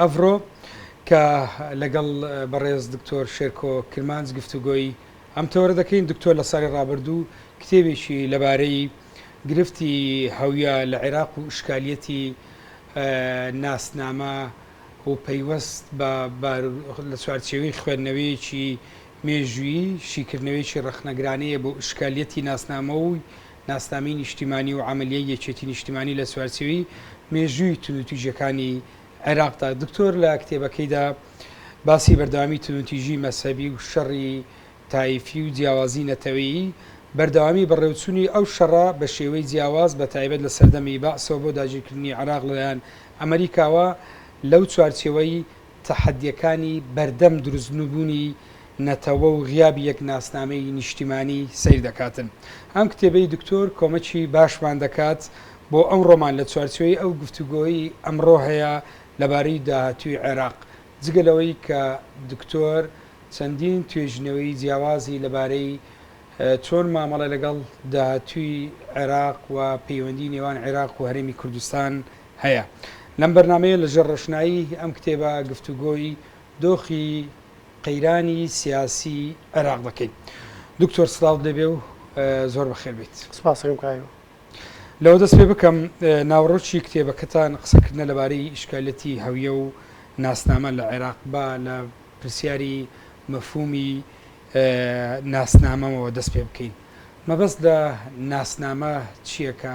ئەڤرۆ، کە لەگەڵ بەڕێز دکتۆر شێرکۆ کرمانج گفتوگۆی ئەم تەوەرە دەکەین، دکتۆر لە ساڵی ڕابردوو کتێبێکی لەبارەی گرفتی هەویە لە عێراق و ئشکالیەتی ناسنامە و پەیوەست بە لە چوارچێوەی خوێندنەوەیەکی مێژوویی شیکردنەوەیەکی ڕەخنەگرانەیە بۆ ئشکالیەتی ناسنامە و ناسنامەی نیشتیمانی و عەمەلیەی یەکێتی نیشتیمانی لە چوارچێوی مێژووی توندوتیژیەکانی عێراقدا، دکتۆر لە کتێبەکەیدا باسی بەردەوامی توندوتیژی مەزهەبی و شەڕی تایفی و جیاوازی نەتەوەیی، بەردەوامی بەڕێوچونی ئەو شەڕە بە شێوەی جیاواز بە تایبەت لە سەردەمی بەعسەوە بۆ داگیرکردنی عێراق لەلایەن ئەمەریکاوە لەو چوارچێوەی تەحەدیەکانی بەردەم دروستنبونی نەتەوە و غیابی یەک ناسنامەی نیشتیمانی سەیر دەکاتن. ئەم کتێبەی دکتۆر کۆمەکی باشمان دەکات بۆ ئەمڕۆمان لە چوارچێوەی ئەو گفتوگۆیەی ئەمڕۆ هەیە لەبارەی داهاتوی عێراق. جگە لەوەی کە دکتۆر چەندین توێژینەوەی جیاوازی لەبارەی چۆن مامەڵە لەگەڵ داهاتوی عێراق و پەیوەندی نێوان عێراق و هەرێمی کوردستان هەیە. لەم بەرنامەیە لە ژێر ڕۆشنایی ئەم کتێبە گفتوگۆی دۆخی قەیرانی سیاسی عێراق دەکەین. دکتۆر سڵاوت لێ بێ و زۆر بەخێر بێیت. سپاسەکەم کاک ئەمین. لەوە دەست پێ بکەم ناوەڕۆکی کتێبەکەتان قسەکردنە لەبارەی ئیشکالیەتی هەویە و ناسنامە لە عێراق، با لە پرسیاری مەفهومی ناسنامەوە دەست پێ بکەین. مەبەست لە ناسنامە چییە کە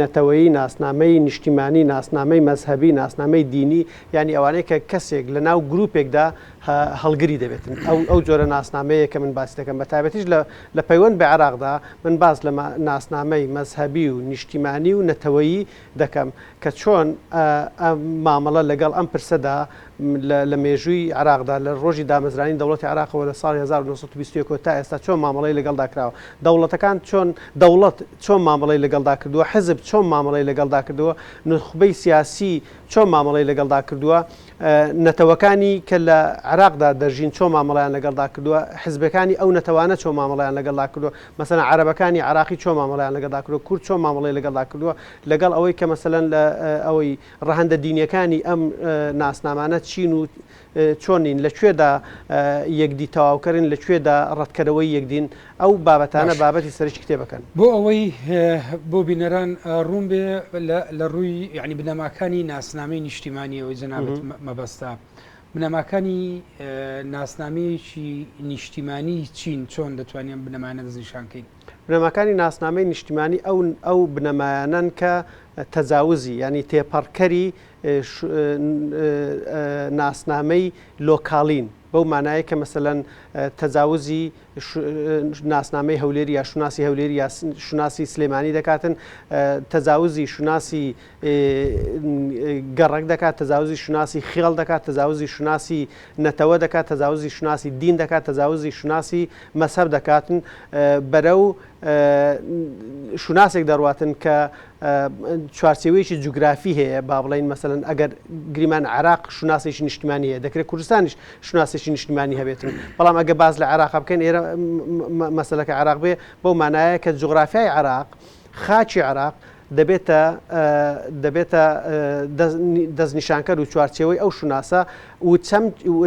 نەتەوەیی، ناسنامەی نیشتیمانی، ناسنامەی مەزهەبی، ناسنامەی دینی، یانی ئەوانەی کە کەسێک لە ناو گروپێکدا هەڵگری دەبێتن، ئەو جۆرە ناسنامەیە کە من باسی دەکەم، بە تایبەتیش لە پەیوەند بە عێراقدا، من باس لە ناسنامەی مەزهەبی و نیشتیمانی و نەتەوەیی دەکەم کە چۆن مامەڵە لەگەڵ ئەم پرسەدا. لە مێژووی عێراقدا، لە ڕۆژی دامەزرانی دەوڵەتی عێراقەوە لە ساڵی هەزار و نۆ سەد و بیست و یەک ەوە تا ئێستا چۆن مامەڵەی لەگەڵدا کراوە، دەوڵەتەکان چۆن، دەوڵەت چۆن مامەڵەی لەگەڵدا کردووە، حزب چۆن مامەڵەی لەگەڵدا کردووە، نوخبەی سیاسی چۆن مامەڵەی لەگەڵدا کردووە، نەتەوەکانی کە لە عێراقدا دەژین چۆن مامەڵەیان لەگەڵدا کردووە، حزبەکانی ئەو نەتەوانە چۆن مامەڵەیان لەگەڵدا کردووە، مەسەلەن عەرەبەکانی عێراقی چۆن مامەڵەیان لەگەڵدا کردووە، کورد چۆن مامەڵەی لەگەڵدا کردووە، لەگەڵ ئەوەی کە مەسەلەن لە ئەوەی ڕەهەندە دینیەکانی ئەم ناسنامانە چین و چۆن نین؟ لە کوێدا یەکدی تەواوکەرن؟ لە کوێدا ڕەتکەرەوەی یەکدین؟ ئەو بابەتانە باشە. بابەتی سەرەکی کتێبەکەن. بۆ ئەوەی بۆ بینەران ڕوون بێ لە لە ڕووی یانی بنەماکانی ناسنامەی نیشتیمانیەوەی جەنابت مە مەبەستە، بنەماکانی ناسنامەیەکی نیشتیمانی چین؟ چۆن دەتوانین ئەم بنەمایانە دەستنیشان کەین؟ بنەماکانی ناسنامەی نیشتیمانی ئەو ئەو بنەمایانەن کە تەجاوزی یانی تێپەڕکەری ناسنامەی لۆکاڵین بەو مانایە کە مەسەەن تەجاوزی ناسنامەی هەولێری یا شوناسی هەولێری یا شوناسی سلێمانی دەکاتن تەجاوزی شوناسی گەڕەک دەکات، تەجاوزی شوناسی خێڵ دەکات، تەجاوزی شوناسی نەتەوە دەکات، تەجاوزی شوناسی دین دەکات، تەجاوزی شوناسی مەزهەب دەکاتن، بەرەو شوناسێک دەڕواتن کە چوارچێوەیەکی جوگرافی هەیە، با بڵێین مەسەلەن ئەگەر گریمان عێراق شوناسێکی نیشتمانی هەیە، دەکرێت کوردستانیش شوناسێکی نیشتمانی هەبێتن، بەڵام ئەگە باس لە عێراق بکەین ئێرە مەسەلەکە عێراق بێ بەو مانایە کە جوغرافیای عێراق خاکی عێراق دەبێتە دەبێتە دەستنیشانکەر و چوارچێوەی ئەو شوناسە و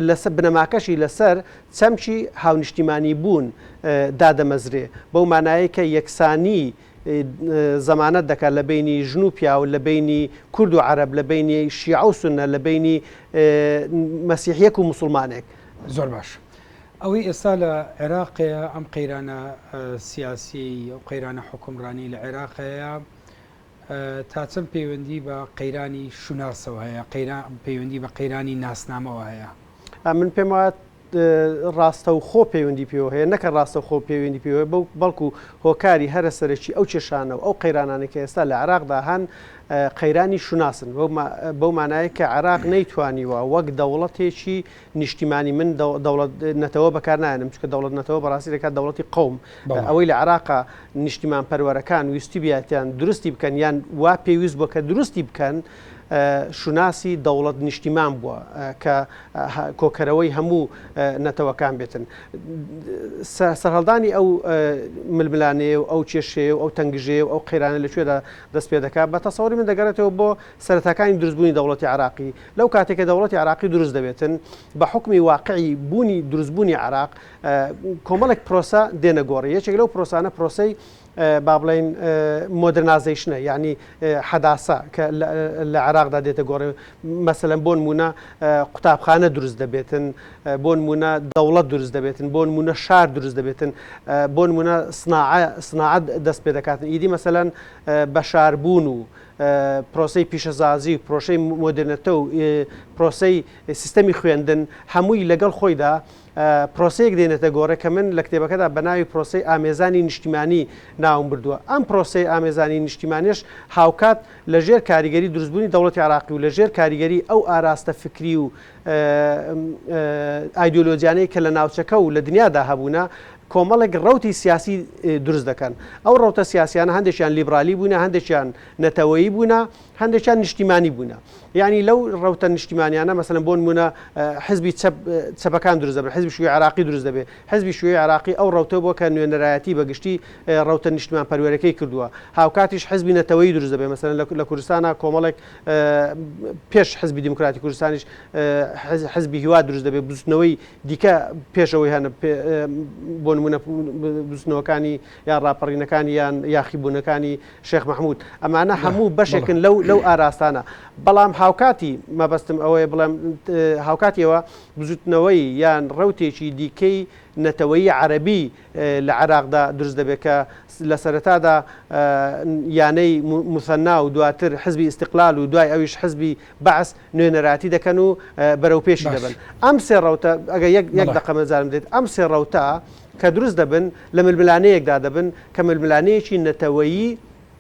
لەسەر بنەماکەشی لەسەر چەمکی هاونیشتیمانی بوون دادەمەزرێ بەو مانایە کە یەکسانی زەمانەت دەکات لە بینی ژن و پیاو لە بینی کورد و عرب لە بینی شیعە و سنە لە بینی مەسیحیەک و مسلمانێک زۆر باش ئەوەی ئێستا لە عێراقەیە، ئەم قەیرانە سیاسیەی ئەو قەیرانە حوکمڕانی لە عێراقەیە تا چەند پەیوەندی بە قەیرانی شوناسەوە هەیە قەیران پەیوەندی بە قەیرانی ناسنامەوە هەیە من پێم وایە ڕاستە و خۆ پەیوەندی پێوە هەیە نەکە ڕاستە خۆ پەیوەندی پێوە بەو بەڵکو هۆکاری هەرە سەرەکی ئەو کێشانە و ئەو قەیرانانی کە ئێستا لە عراقدا هەن قەیرانی شوناسن بەو مانایە کە عراق نەیتوانیوە وەک دەوڵەتێکی نیشتیمانی من دەوڵەت نەتەوە بەکارنایەنم چکە دەوڵەت نەتەوە بەڕاستی دەکات دەوڵەتی قوم ئەوەی لە عراقا نیشتیمان پەروەرەکان ویستی بیاتیان درستی بکەن یان وا پێویست بووە کە درستی بکەن شوناسی دەوڵەت نیشتیمان بووە کە کۆکەرەوەی هەموو نەتەوەکان بێتن سەرهەڵدانی ئەو ململانەیە و ئەو کێشەیە و ئەو تەنگژەیە و ئەو قەیرانە لەکوێدا دەست پێ دەکات بە تەسەوری من دەگەڕێتەوە بۆ سەرەتاکانی دروست بوونی دەوڵەتی عێراقی، لەو کاتەی کە دەوڵەتی عێراقی دروست دەبێتن بە حوکمی واقعی بوونی دروست بوونی عێراق کۆمەڵێک پرۆسە دێنە گۆڕی یەکێک لەو پرۆسانە پرۆسەی با بڵێین مۆدرنازەیشنە یعنی حەداسە کە لە عێراقدا دێتە گۆڕێ مەسەلەن بۆن مونە قوتابخانە دروست دەبێتن بۆن مونە دەوڵەت دروست دەبێتن بۆن مونە شار دروست دەبێتن بۆن مونە سناعە سناعەت دەست پێ دەکاتن ئیدی مەسەلەن بەشاربوون و پرۆسەی پیشەزازی و پرۆشەی مۆدێرنەتە و پرۆسەی سیستەمی خوێندن هەمووی لەگەڵ خۆیدا پرۆسەیەک دێنێتە گۆڕێ کە من لە کتێبەکەدا بە ناوی پرۆسەی ئامێزانی نیشتیمانی ناوم بردووە ئەم پرۆسەی ئامێزانی نیشتیمانێش هاوکات لە ژێر کاریگەری دروستبوونی دەوڵەتی عراقی و لە ژێر کاریگەری ئەو ئاراستە فکری و ئایدۆلۆجیانەی کە لە ناوچەکە و لە دنیادا هەبوونە کۆمەڵێک ڕەوتی سیاسی دروست دەکەن، ئەو ڕەوتە سیاسیانە هەندێکیان لیبرالی بوونە، هەندێکیان نەتەوەیی بوونە، هەندێکیان نیشتیمانی بوونە، یانی لەو ڕەوتە نیشتیمانیانە مەسەلەن بۆ نموونە حزبی چەپ چەپەکان دروست دەبن، حزبی شیوعی عێراقی دروست دەبێت، حزبی شیوعی عێراقی ئەو ڕەوتە بووە کە نوێنەرایەتی بە گشتی ڕەوتە نیشتمانپەروەرەکەی کردووە، هاوکاتیش حزبی نەتەوەیی دروست دەبێت، مەسەلەن لە لە کوردستانا کۆمەڵێک پێش حزبی دیموکراتی کوردستانیش حزبی هیوا دروست دەبێت، بزووتنەوەی. دیکە پێش ئەوەی هەنە بۆ نمونە بزنەوەکانی یان ڕاپەڕینەکانی یان یاخیبوونەکانی شێخ مححمود ئەمانە هەموو بەشێکن لەو لەو ئاراستانە بەڵام هاوکاتی مەبەستم ئەوەیە بڵێم هاوکاتیەوە بزوتنەوەی یان ڕوتێکی دیکەی نەتەوەی عەربی لە عێراقدا دروست دەبێت کە لە سەرەتادا یانەی موسەننا و دواتر حزبی ئیستیقلال و دوای ئەویش حزبی بەعس نوێنەرایەتی دەکەن و بەرەوپێشی دەبەن. ئەم سێ ڕەوتە ئەگەر یەک دەقە مەجالم بدەیت، ئەم سێ ڕەوتە کە دروست دەبن لە ململانێیەکدا دەبن کە ململانێیەکی نەتەوەیی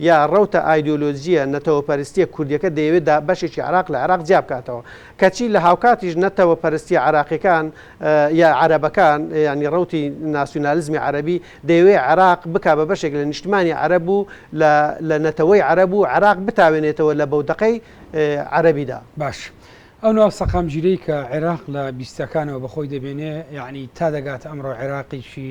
یا ڕەوتە ئایدۆلۆجییە نەتەوەپەرستییە کوردییەکە دەیەوێت دا بەشێکی عێراق لە عێراق جیا بکاتەوە. کەچی لە هاوکاتیش نەتەوەپەرستییە عێراقییەکان یا عەرەبەکان، یانی ڕەوتی ناسیونالیزمی عەرەبی، دەیەوێت عێراق بکا بە بەشێک لە نیشتمانی عەرەب و لە لە نەتەوەی عەرەب و عێراق بتاوێنێتەوە لە بەودەقەی عەرەبی دا. باش، ئەو ناو سەقامگیرەی کە عێراق لە بیستەکانەوە بە خۆی دەبێنێ، یانی تا دەگاتە ئەمڕۆ عێراقێکی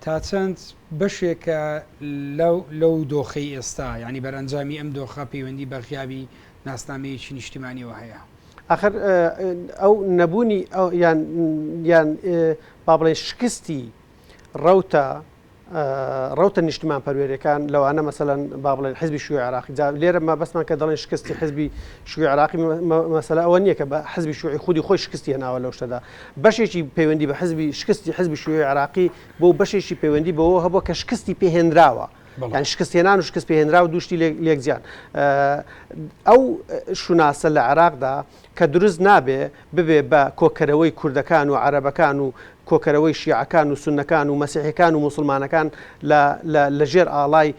تا چەند بەشێکە لەو لەو دۆخەی ئێستا، یانی بەرئەنجامی ئەم دۆخە پەیوەندی بە غیابی ناسنامەیەکی نیشتیمانیەوە هەیە؟ ئاخر ئەو نەبوونی ئەو یان یان با بڵێین شکستی ڕەوتە ڕەوتە نیشتمان پەروێرەکان لەوانە مەسەەن با بڵێن حزبی شوی عراقی جا لێرە مەبەستمان کە دەڵێن شکستی حزبی شوی عراقی مەسەلا ئەوە نییە کە بە حزبی شوعی خودی خۆی شکستی هێناوە لەو شتەدا بەشێکی پەیوەندی بە حزبی شکستی حزبی شیوعی عێراقی بوو، بەشێکی پەیوەندی بەوەوە هەبووە کە شکستی پێ هێنراوە. یانی شکستهێنان و شکست پێهێنراو دوو شتی لێک جیان. ئەو شوناسە لە عێراقدا کە دروست نابێ ببێ بە کۆکەرەوەی کوردەکان و عەرەبەکان و کۆکەرەوەی شیعەکان و سوننەکان و مەسیحیەکان و موسڵمانەکان لە لە لەژێر ئاڵای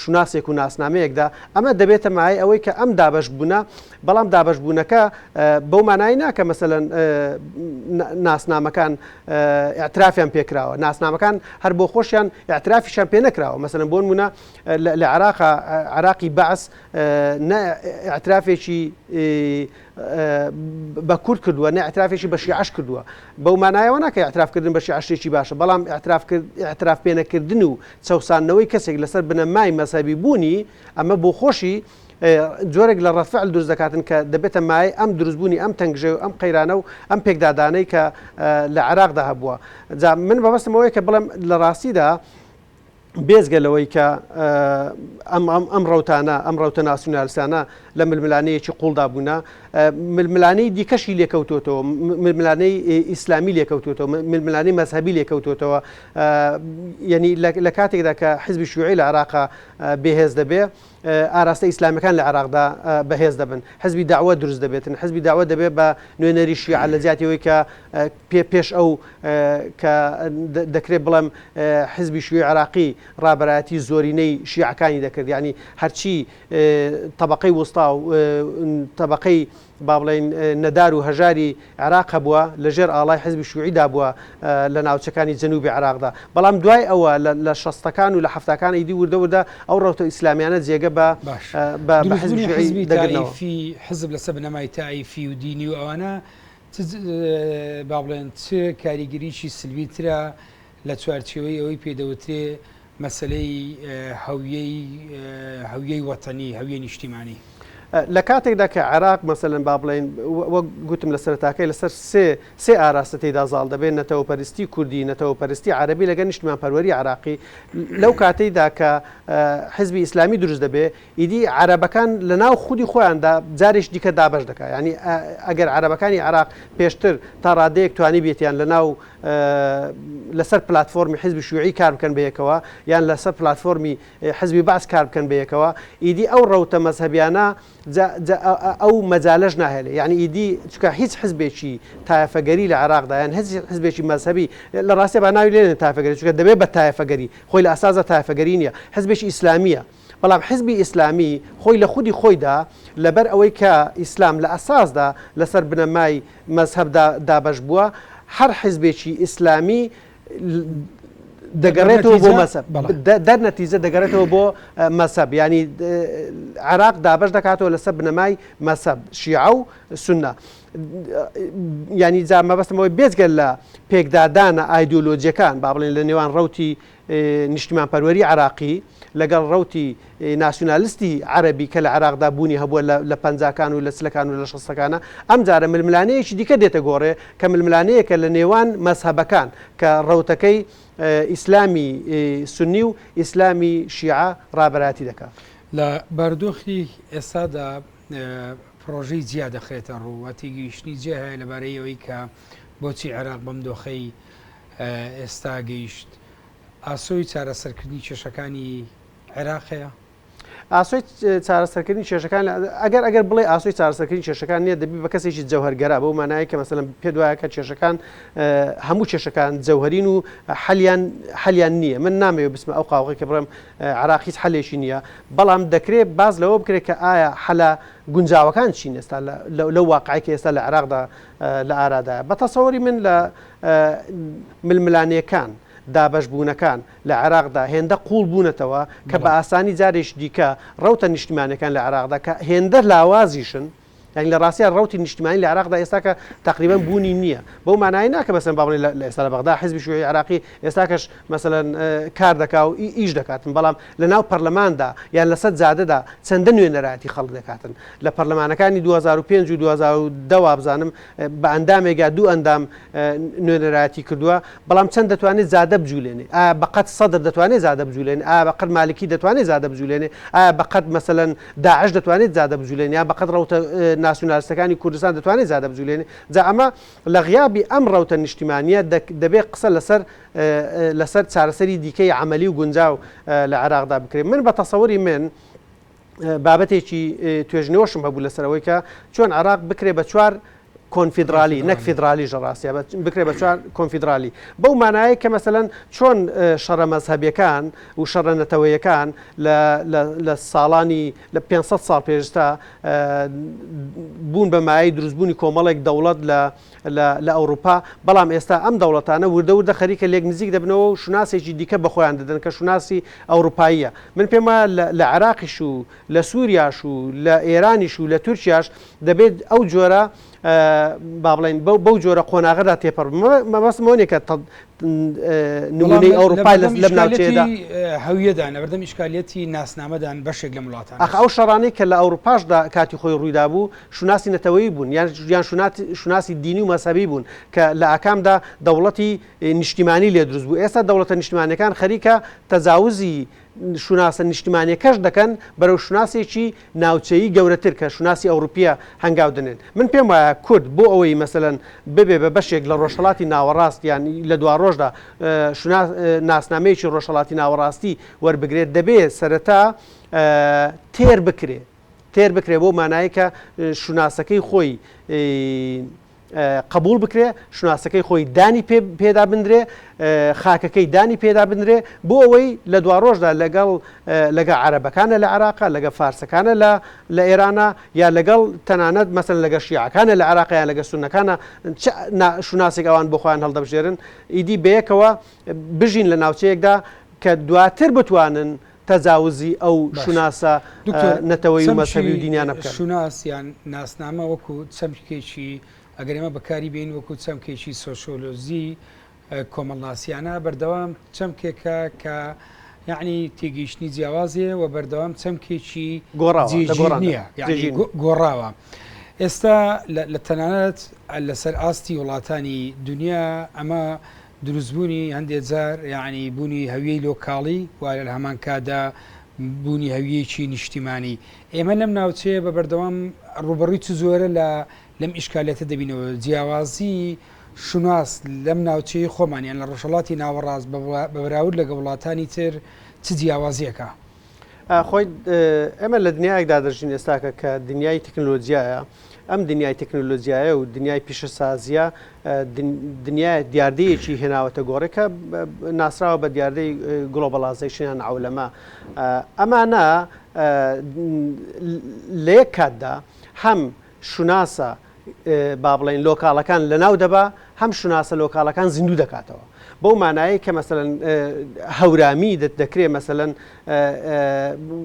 شوناسێک و ناسنامەیەکدا، ئەمە دەبێتە مایەی ئەوەی کە ئەم دابەشبوونە، بەڵام دابەشبوونەکە بەو مانایەی نا کە مەسەلەن ناسنامەکان ئیعترافیان پێ کراوە، ناسنامەکان هەر بۆ خۆشیان ئیعترافیشیان پێ نەکراوە، مەسەلەن بۆ نموونە لە عێراقا، عێراقی بەعس نە ئیعترافێکی بە کورد کردووە نە ئیعترافێکی بە شیعەش کردووە بەو مانایەوە ناکە ئیعتراف کردن بە شیعە شتێکی باشە بەڵام ئیعتراف کرد ئیعتراف پێ نەکردن و چەوساندنەوەی کەسێک لەسەر بنەمای مەزهەبی بوونی ئەمە بۆ خۆشی جۆرێک لە ڕەدفعل دروست دەکاتن کە دەبێتە مایە ئەم دروستبوونی ئەم تەنگژەی و ئەم قەیرانە و ئەم پێکدادانەی کە لە عێراقدا هەبووە جا من بەبەستمەوەی کە بڵێم لە ڕاستیدا بێجگە لەوەی کە ئەم ڕەوتانە، ئەم ڕەوتە ناسیونالیستانە لە ململانێیەکی قووڵدا بوونە، ململانێی دیکەشی لێکەوتووەتەوە، ململانێی ئیسلامی لێکەوتووەتەوە، ململانێی مەزهەبی لێکەوتووەتەوە، یانی لە کاتێکدا کە حزبی شیوعی لە عێراقا بێهێز دەبێ، ئاراستە ئیسلامیەکان لە عێراقدا بە هێز دەبن حزبی داوە دروست دەبێتن حزبی داوە دەبێت بە نوێنەری شیعە لە جیاتی ئەوی کە پێ پێش ئەو کە دەکرێت بڵێم حزبی شوی عراقی ڕابەتی زۆرینەی شیعەکانی دەکرد ینی هەرچی طبقەی وستا و طبقەی با بڵێین نەدار و هەژاری عێراق هەبووە، لە ژێر ئاڵای حیزبی شووعی دا بووە لە ناوچەکانی جەنووبی عێراق دا. بەڵام دوای ئەوە لە شەستەکان و لە حەفتاکان ئیدی وردە وردە ئەو ڕەوتە ئیسلامیانە جێگە بە بە حیزبی شووعی دەگرنەوە. دروستبوونی حیزبی تائیفی، حیزب لە سەر بنەمای تائیفی و دینی و ئەوانە چ با بڵێن چ کاریگەریی سلبی ترە لە چوارچێوەی ئەوەی پێ دەوترێ مەسەلەی هەویەی هەویەی وەتەنی، هەویەی نیشتیمانی. لە کاتێکدا کە عێراق مەسەلەن با بڵێین وەک گوتم لە سەرەتاکەی لەسەر سێ سێ ئاراستە تێیدا زاڵ دەبێت، نەتەوەپەرستی کوردی، نەتەوەپەرستی عەرەبی لەگەڵ نیشتمانپەروەری عێراقی، لەو کاتەیدا کە حزبی ئیسلامی دروست دەبێت، ئیدی عەرەبەکان لە ناو خودی خۆیاندا جارێکی دیکە دابەش دەکات یانی ئەگەر عەرەبەکانی عێراق پێشتر تا ڕادەیەک توانیبێتیان لە ناو لە سەر پلاتفۆرمی حزبی شوعی کار بکەن بە یەکەوە یان لە سەر پلاتفۆرمی حزبی بەعس کار بکەن بە یەکەوە ئیدی ئەو ڕەوتە مەزهەبیانە ئەو مەجالەش ناهێلێ یعنی ئیدی چکە هیچ حزبێکی تایفەگەری لە عێراقدا یان هەز حزبێکی مەزهبی لە ڕاستێ بە ناوی لێن تایفەگەری چکە دەبێت بە تایفەگەری خۆی لە ئەسازە تایفەگەری نیە حزبێکی ئیسلامیە بەڵام حیزبی ئیسلامی خۆی لە خودی خۆیدا لەبەر ئەوەی کە ئیسلام لە ئەساسدا لەسەر بنەمای مەزهەبدا دابەش بووە هەر حیزبێکی ئیسلامی دەگەڕێتەوە بۆ مەزهەب دەر نەتیجە دەگەڕێتەوە بۆ مەزهەب یانی عێراق دابەش دەکاتەوە لەسەر بنەمای مەزهەب شیعە و سنە ینی جا مەبەستمەوەی بێزگەل لە پێکدادانە ئایدۆلۆجیەکان با بڵێن لە نێوان ڕوتی نیشتیمانپەروەری عێراقی لەگەڵ ڕەوتی ناسیونالستی عەرەبی کە لە عێراقدا بوونی هەبووە لە لە پەنجاکان و لە چلەکان و لە شەستەکانا، ئەمجارە ململانێیەکی دیکە دێتە گۆڕێ کە ململانێیەکە لە نێوان مەزهەبەکان کە ڕەوتەکەی ئیسلامی سوننی و ئیسلامی شیعە ڕابەرایەتی دەکا. لە بارودۆخی ئێستادا پڕۆژەی جیا دەخرێتە ڕوو و تێگەیشتنی جیا هەیە لەبارەی ئەوەی کە بۆچی عێراق بەم دۆخەی ئێستا گەیشت، ئاسۆی چارەسەرکردنی کێشەکانی عێراق هەیە؟ ئاسۆی چارەسەرکردنی کێشەکان، ئەگەر ئەگەر بڵێ ئاسۆی چارەسەرکردنی کێشەکان نییە، دەبی بە کەسێکی جەوهەرگەرا، بەو مانایە کە مەسەلەن پێت وایە کە کێشەکان هەموو کێشەکان جەوهەرین و حەلیان حەلیان نییە. من نامەوێ بچمە ئەو قاوغەی کە بڵێم عێراق هیچ حەلێکی نییە، بەڵام دەکرێ باس لەوە بکرێ کە ئایا حەلە گونجاوەکان چین ئێستا لەو واقعی کە ئێستا لە عێراقدا لە ئارادایە. بە تەسەوری من لە ململانێکان، دابەشبوونەکان لە عێراقدا هێندە قووڵ بوونەتەوە کە بە ئاسانی جارێکی دیکە ڕەوتە نیشتیمانیەکان لە عێراقدا کە هێندە لاوازیشن، یانی لە ڕاستیا ڕەوتی نیشتیمانی لە عێراقدا ئێستاکە تەقریبەن بوونی نییە، بەو مانایە نا کە مەسەلەن با بڵێین لە ئێستا لە بەغدا حیزبی شیوعی عێراقی ئێستاکەش مەسەلەن کار دەکا و ئیش دەکاتن، بەڵام لە ناو پەرلەماندا یان لە سەر جادەدا چەندە نوێنەرایەتی خەڵک دەکاتن لە پەرلەمانەکانی دوو هەزار و پێنج و دوو هەزار و دە وابزانم، بە ئەندامێک یا دوو ئەندام نوێنەرایەتی کردووە، بەڵام چەند دەتوانێت زادە بجولێنێ؟ ئایا بەقەد سەدر دەتوانێت زادە بجولێنێ؟ ئایا بەقەد مالکی دەتوانێت زادە بجولێنێ؟ ئایا بەقەد مەسەلەن داعش دەتوانێت زادە بجولێنێ؟ یان بەقەد ڕەوتە ناسیونالستەکانی کوردستان دەتوانێت زادە بجولێنێ؟ جا ئەمە لە غیابی ئەم ڕەوتە نیشتیمانییە دەبێت قسە لەسەر لەسەر چارەسەری دیکەی عەمەلی و گونجاو لە عێراقدا بکرێت. من بە تەسەوری من، بابەتێکی توێژنەوەشم هەبوو لەسەر ئەوەی کە چۆن عراق بکرێ بە چوار کۆنفیدرالی نەک فیدرالی ژەڕاستە بکرێ بە چوار کۆنفیدرالی بەو مانایە کە مەسەەن چۆن شەڕە مەزهبیەکان و شەڕە نەتەوەیەکان لە ساڵانی لە 500 ساڵ پێشتا بوون بە مای دروستبوونی کۆمەڵێک دەوڵەت لە لە لە ئەوروپا، بەڵام ئێستا ئەم دەوڵەتانە وردە وردە خەریکە لێک نزیک دەبنەوە و شوناسێکی دیکە بە خۆیان دەدەن کە شوناسی ئەوروپاییە. من پێم وایە لە لە عێراقیش و لە سوریاش و لە ئێرانیش و لە تورکیاش دەبێت ئەو جۆرە با بڵێین بەو بەو جۆرە قۆناغەدا تێپەڕ بن. مە مەبەستم ئەوە نیە کە تە بەڵام نموونەی لە لە ئەوروپای لە بەردەم لەم ئیشکالیەتی ناوچەیەدا هەویەدان، لە بەردەم ئیشکالیەتی ناسنامەدان بەشێک لەم وڵاتانە. ئاخ ئەو شەڕانەی کە لە ئەوروپاشدا کاتی خۆی ڕوویدابوو، شوناسی نەتەوەیی بوون یان شوناسی دینی و مەزهەبی بوون کە لە ئاکامدا دەوڵەتی نیشتیمانی لێ دروست بوو ئێستا دەوڵەتە نیشتمانیەکان خەریکە تەجاوزی شوناسە نیشتمانیەکەش دەکەن بەرەو شوناسێکی ناوچەیی گەورەتر کە شوناسی ئەوروپیە هەنگاو دەنێن من پێم وایە کورد بۆ ئەوەی مەسەلەن ببێ بە بەشێک لە ڕۆژهەڵاتی ناوەڕاست یان لە دواڕۆژدا ناسنامەیەکی ڕۆژهەڵاتی ناوەڕاستی وەربگرێت دەبێ سەرەتا تێر بکرێ تێر بکرێ بەو مانایەی کە شوناسەکەی خۆی قبول بکرێ شوناسەکەی خۆی دانی پێدا بندرێ خاکەکەی دانی پێدا بنرێ بۆ ئەوەی لە دوا ڕۆژدا لەگەڵ لەگە عربەکانە لە عراقا لەگە فارسەکانە لە لە ئێرانە یا لەگەڵ تەنانەت مەسن لەگە شیعەکانە لە عراقیان لەگە سونەکانە شوناسێک ئەوان بخۆیان هەڵدەبژێرن ئیدی بەیەکەوە بژین لە ناوچەیەکدا کە دواتر بتوانن تەجاوزی ئەو شوناسە نەتەوەی و مەزهەبی و دینیانە بکەن. باشە، دکتۆر، چەمکی شوناس یان ناسنامە وەکو چەمکێکی، ئەگەر ئێمە بەکاری بێنین وەکو چەمکێکی سۆسیۆلۆجی کۆمەڵناسیانە، بەردەوام چەمکێکە کە یەعنی تێگەیشتنی جیاواز هەیە و بەردەوام چەمکێکی جێگیر نییە، یەعنی گۆڕاوە. ئێستا لە تەنانەت لەسەر ئاستی وڵاتانی دونیا ئەمە دروستبوونی هەندێک جار یەعنی بوونی هەویەی لۆکاڵی و لە هەمان کاتدا بوونی هەویەیەکی نیشتیمانی. ئێمە لەم ناوچەیە بە بەردەوام ڕووبەڕووی چ جۆرە لە لەم ئیشکالیەتە دەبینەوە؟ جیاوازی شوناس لەم ناوچەی خۆمان یان لە ڕۆژهەڵاتی ناوەڕاست بە بەراورد لەگە وڵاتانی تر چ جیاوازیەکە؟ ئاخۆی ئێمە لە دنیایەکدا دەژین ئێستاکە کە دنیای تەکنلۆجیایە ئەم دنیای تەکنلۆجیایە و دنیای پیشەسازیە دنیای دیاردەیەکی هێناوەتە گۆڕێکە ناسراوە بە دیاردەی گڵۆبڵازیشنیان ئەولەما ئەمانە لە یەک کاتدا هەم شوناسە با بڵێین لۆکاڵەکان لەناو دەبا هەم شوناسە لۆکاڵەکان زیندوو دەکاتەوە بەو مانایە کە مەسەن هەورامی دەت دەکرێ مەسەن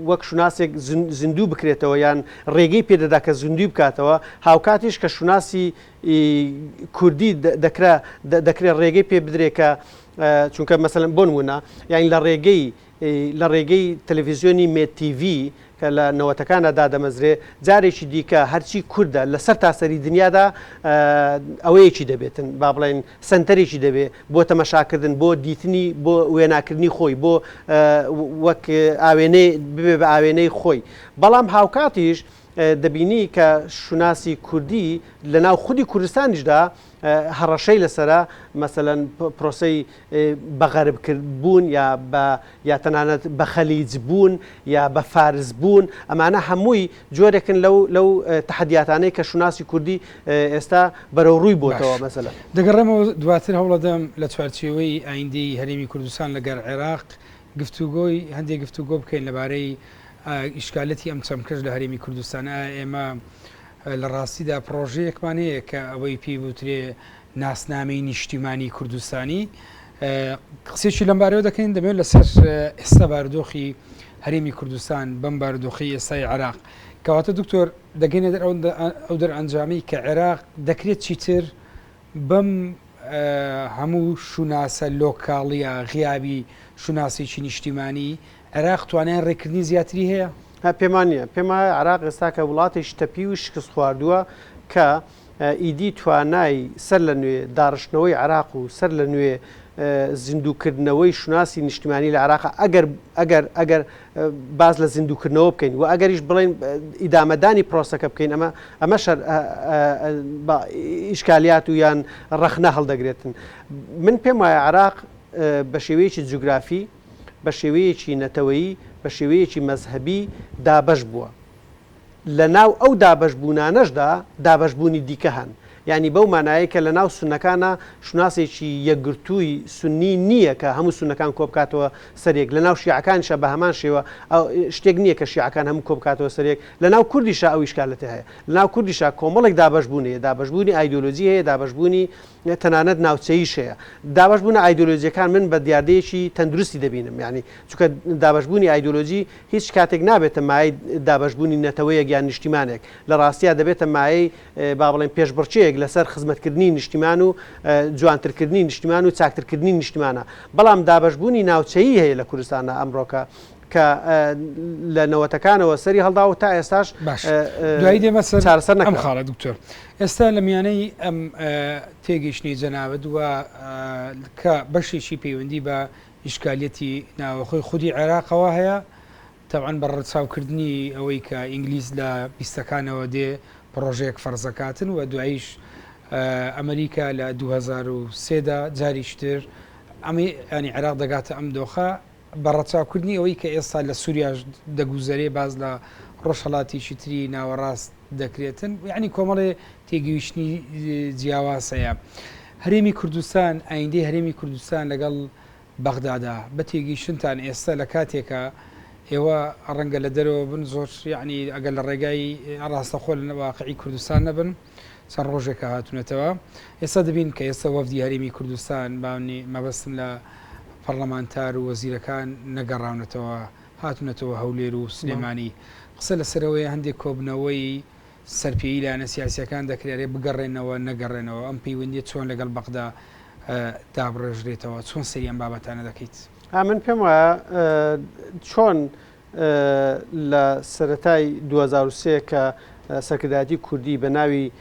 وەک شوناسێک زیندوو بکرێتەوە یان ڕێگەی پێدەدا کە زیندوی بکاتەوە هاوکاتیش کە شوناسی کوردی دەکرا دەکرێت ڕێگەی پێ بدرێکە چونکە مەسەن بۆن وونە یاین لە ڕێگەی ی لە ڕێگەی تەلەفیزیۆنی مێد تیڤی کە لە نەوەتەکانا دادەمەزرێ جارێکی دیکە هەرچی کوردە لە سەرتاسەری دنیادا ئەوەیەکی دەبێتن با بڵێن سەنتەرێکی دەبێ بۆ تەمەشاکردن بۆ دیتنی بۆ وێناکردنی خۆی بۆ وەک ئاوێنەی ببێ بە ئاوێنەی خۆی بەڵام هاوکاتیش دەبینی کە شوناسی کوردی لە ناو خودی کوردستانیشدا هەڕەشەی لەسەرە مەسەلەن پرۆسەی بە غەرب کرد بوون یا بە یا تەنانەت بە خەلیج بوون یا بە فارس بوون ئەمانە هەمووی جۆرێکن لەو لەو تحدیاتانەی کە شوناسی کوردی ئێستا بەرەو ڕووی بۆتەوە مەسەلە دەگەڕێمەوە دواتر هەوڵەدەم لە چوارچێوەی ئایندی هەرێمی کوردستان لەگەر عێراق گفتوگۆی هەندێک گفتوگۆ بکەین لەبارەی ئیشکالەتی ئەم چەمکەش لە هەرێمی کوردستان ئێمە لە ڕاستیدا پڕۆژەیەکمان هەیە کە ئەوەی پێی بوترێ ناسنامەی نیشتیمانی کوردستانی قسێکی لەم بارەوە دەکەین دەبێت لەسەر ئێستا باردۆخی هەرێمی کوردستان بەم باردۆخی ئێستای عراق کەواتە دکتۆر دەگەینە دەر ئەو دەر ئەنجامی کە عێراق دەکرێت چیتر بەم هەموو شوناسە لۆکاڵیە غیابی شوناسێکی نیشتیمانی، عێراق توانای ڕێککردنی زیاتری هەیە؟ پێمان نیە. پێم وایە عێراق ئێستا کە وڵاتێکی تەپیو و شکستخواردووە کە ئیدی توانای سەر لە نوێ داڕشتنەوەی عێراق و سەر لە نوێ زیندووکردنەوەی شوناسی نیشتیمانی لە عێراق ئەگەر ئەگەر ئەگەر باس لە زیندووکردنەوە بکەین و ئەگەریش بڵێین ئیدامەدانی پرۆسەکە بکەین ئەمە ئەمە شەر ئیشکالیات و یان ڕەخنە هەڵدەگرێتن من پێم وایە عراق بە شێوەیەکی جوگرافی بە شێوەیەکی نەتەوەیی بە شێوەیەکی مەذهبی دابش بووە لە ناو ئەو دابەشبوونانەشدا دابەشبوونی دیکە هەن، یانی بەو مانایەی کە لە ناو سوننەکانا شوناسێکی یەکگرتووی سوننی نییە کە هەموو سوننەکان کۆ بکاتەوە سەر یەک، لە ناو شیعەکانیشا بە هەمان شێوە شتێک نییە کە شیعەکان هەموو کۆ بکاتەوە سەر یەک، لە ناو کوردیشا ئەو ئیشکالەتە هەیە، لە ناو کوردیشا کۆمەڵێک دابەشبوون هەیە، دابەشبوونی ئایدیۆلۆجی هەیە، دابەشبوونی تەنانەت ناوچەییش هەیە. دابەشبوونە ئایدیۆلۆجییەکان من بە دیاردەیەکی تەندروستی دەبینم، یانی چونکە دابەشبوونی ئایدیۆلۆجی، هیچ کاتێک نابێتە مایەی دابەشبوونی نەتەوەیەک یان نیشتیمانێک، لە ڕاستیا دەبێتە مایەی با بڵێین پێشبڕکێیەک لەسەر خزمەتکردنی نیشتیمان و جوانترکردنی نیشتیمان و چاکترکردنی نیشتیمانە، بەڵام دابەشبوونی ناوچەیی هەیە لە کوردستاندا ئەمڕۆکە کە لە نەوەتەکانەوە سەری هەڵدا و تا ئێستاش دوایی دێمە سەر چارەسەر نەکرا. ئەم خاڵە دکتۆر ئێستا لە میانەی ئەم تێگەیشتنی جەنابت و کە بەشێکی پەیوەندی بە ئیشکالیەتی ناوەخۆی خودی عێراقەوە هەیە، تەبعەن بە ڕەچاو کردنی ئەوەی کە ئینگلیز لە بیستەکانەوە دێ پڕۆژەیەک فەرز ئەکاتن و دواییش ئەمریکا لە دوو هەزار و سێ دا جاریش تر ئەمەی یانی عێراق دەگاتە ئەم دۆخە بە ڕەچاو کردنی ئەوەی کە ئێستا لە سووریاش دەگوزەرێ باز لە ڕۆژهەڵاتیکی تری ناوەڕاست دەکرێتن یعنی کۆمەڵێ تێگەیشتنی جیاواز هەیە هەرێمی کوردستان ئایندەی هەرێمی کوردستان لەگەڵ بەغدادا بە تێگەیشتنتان ئێستا لە کاتێکە ئێوە ڕەنگە لە دەرەوە بن زۆر یعنی ئەگەر لە ڕێگای ڕاستەخۆ لە واقعی کوردستان نەبن چەند ڕۆژێکە هاتوونەتەوە ئێستا دەبین کە ئێستا وەفدی هەرێمی کوردستان باونی مەبەستم لە پەرلەمانتار و وەزیرەکان نەگەڕاونەتەوە هاتونەتەوە هەولێر و سلێمانی قسە لەسەرەوەیە هەندێک کۆبنەوەی سەرپێیی لایەنە سیاسیەکان دەکرێت ئەرێ بگەڕێنەوە نەگەڕێنەوە ئەم پەیوەندیە چۆن لەگەڵ بەغدا دابڕێژرێتەوە چۆن سەری ئەم بابەتانە دەکەیت ها من پێم وایە چۆن لە سەتای 2023 کە سەکرداتی کوردی بە ناوی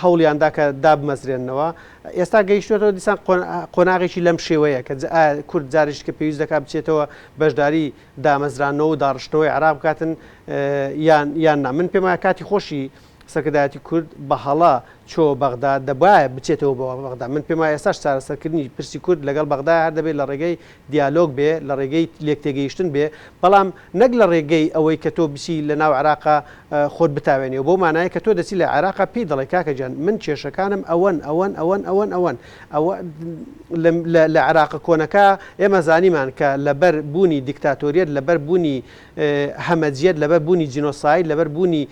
هەوڵیان دا کە دابمەزرێننەوە. ئێستا گەیشتوێتەوە دیسان قۆناغێکی لەم شێوەیە کە کورد جارێک کە پێویست دەکات بچێتەوە بەشداری دامەزرانەوە و داڕشتنەوەی عراق بکاتن یان یان نا من پێم کاتی خۆشی سەرکردایەتی کورد بە هەڵە چۆ بەغدا دەبایە بچێتەوە بەوە بەغدا من پێم ئێستاش چارەسەرکردنی پرسی کورد لەگەڵ بەغدا هەر دەبێت لە ڕێگەی دیالۆگ بێ، لە ڕێگەی لێکتێگەیشتن بێ، بەڵام نەک لە ڕێگەی ئەوەی کە تۆ بچی لە ناو عێراقا خۆت بتاوێنی و بەو مانایە کە تۆ دەچی لە عێراقا پێی دەڵێ کاکە گیان من کێشەکانم ئەوەن، ئەوەن، ئەوەن، ئەوەن، ئەوەن. ئەوە لە لە عێراقە کۆنەکا ئێمە زانیمان کە لە بەر بوونی دیکتاتۆریەت، لە بەر بوونی هەمەجیەت، لە بەر بوونی جینۆساید، لە بەر بوونی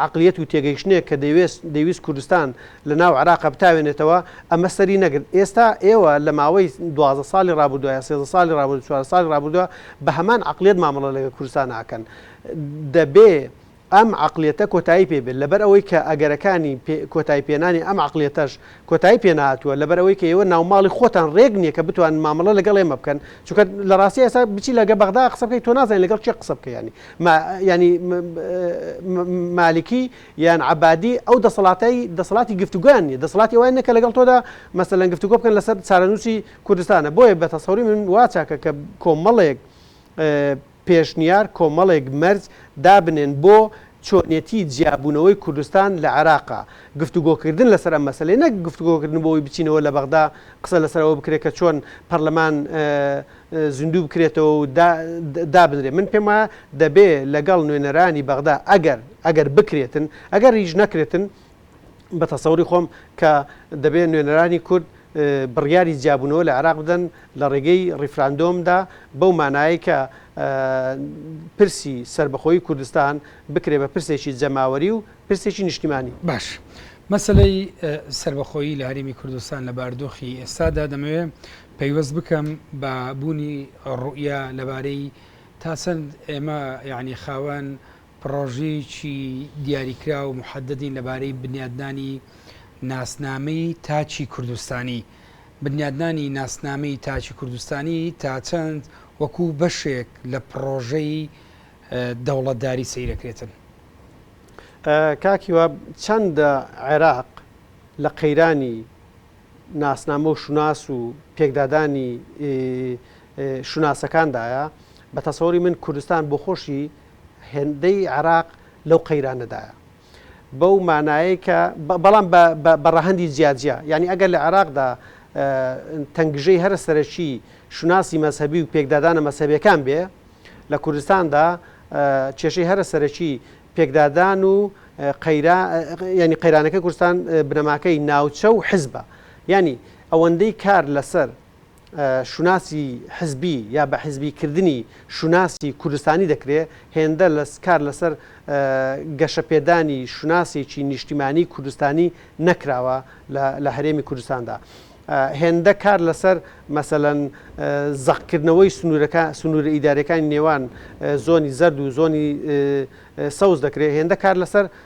عەقلیەت و تێگەیشتنێک کە دەیوێست دەیویست کوردستان لە ناو عێراقا بتاوێنێتەوە ئەمە سەری نەگرت ئێستا ئێوە لە ماوەی دوازدە ساڵی ڕابوردوە یا سێزدە ساڵی ڕابوردو چوار ساڵی ڕابوردوە بە هەمان عەقلیەت مامەڵە لەگەل کوردستان ئەکەن دەبێ ئەم عەقلیەتە کۆتایی پێ بێت لەبەر ئەوەی کە ئەگەرەکانی پێ کۆتایی پێنانی ئەم عەقلیەتەش کۆتایی پێ نەهاتووە لەبەر ئەوەی کە ئێوە ناوماڵی خۆتان رێک نیە کە بتوانن مامەڵە لەگەڵ ئێمە بکەن چونکە لە راستی ئێستا بچی لە گە بەغدا قسە بکەی تۆ نازانی لەگەڵ کێ قسە بکەی یانی ما یانی مالکی یان عەبادی ئەو دەسەڵاتەی دەسەڵاتی گفتوگۆیان نیە دەسەڵاتی ئەوان نیە کە لەگەڵ تۆدا مەسەلەن گفتوگۆ بکەن لەسەر چارەنووسی کوردستانە بۆیە بە تەسەوری من وا چاکە کە کۆمەڵێک پێشنیار کۆمەڵێک مەرج دابنێن بۆ چۆنێتی جیابوونەوەی کوردستان لە عێراقا گفتوگۆکردن لەسەر ئەم مەسەلەی نەک گفتوگۆکردن بۆ ئەوەی بچینەوە لە بەغدا قسە لەسەر ئەوە بکرێت کە چۆن پەرلەمان زیندوو بکرێتەوە و دابنرێت من پێم وایە دەبێ لەگەڵ نوێنەرانی بەغدا ئەگەر ئەگەر بکرێتن ئەگەر هیچ نەکرێتن بە تەسەوری خۆم کە دەبێ نوێنەرانی کورد بڕیاری جیابوونەوە لە عێراق بدەن لە ڕێگەی ڕیفراندۆمدا بەو مانایە کە پرسی سربەخۆی کوردستان بکرێ بە پرسێکی جەماوەری و پرسێکی نیشتیمانی باش مەسلەی سربەخۆیی لە هەرمی کوردستان لە باردۆخی ئێستادا دەمەوێ پەیوەست بکەم بە بوونی ڕوئە لەبارەی تاسەند ئێمە یعنی خاوەن پڕۆژەیەکی دیاریکراو و محەددەدین لەبارەی بنیادنانی ناسنامەی تاکی کوردستانی. بنیادنانی ناسنامەی تاکی کوردستانی تا چەند وەکو بەشێک لە پڕۆژەی دەوڵەتداری سەیر دەکرێتن؟ کاک هیوا، چەندە عێراق لە قەیرانی ناسنامە و شوناس و پێکدادانی شوناسەکاندایە، بە تەسەوری من کوردستان بۆخۆشی، هێندەی عێراق لەو قەیرانەدایە بەو مانایەی کە بەڵام بە ڕەهەندی جیاجیا یعنی ئەگەر لە عێراقدا تەنگژەی هەرە سەرەکی شوناسی مەذهبی و پێکدادانە مەسەبەکان بێ لە کوردستاندا کێشەی هەرە سەرەکی پێکدادان و ینی قەیرانەکە کوردستان بنەماکەی ناوچە و حزبە ینی ئەوەندەی کار لەسەر شوناسی حزبی یا بە حزبی کردنی شوناسی کوردستانی دەکرێ، هێندە لە کار لەسەر گەشە پێدانی شوناسێکی نیشتیمانی کوردستانی نەکراوە لە هەرێمی کوردستاندا. هێندە کار لەسەر مەسەلەن زەق کردنەوەی سنوورە ئیدارەکانی نێوان زۆنی زەرد و زۆنی سەوز دەکرێ، هێندە کار لەسەر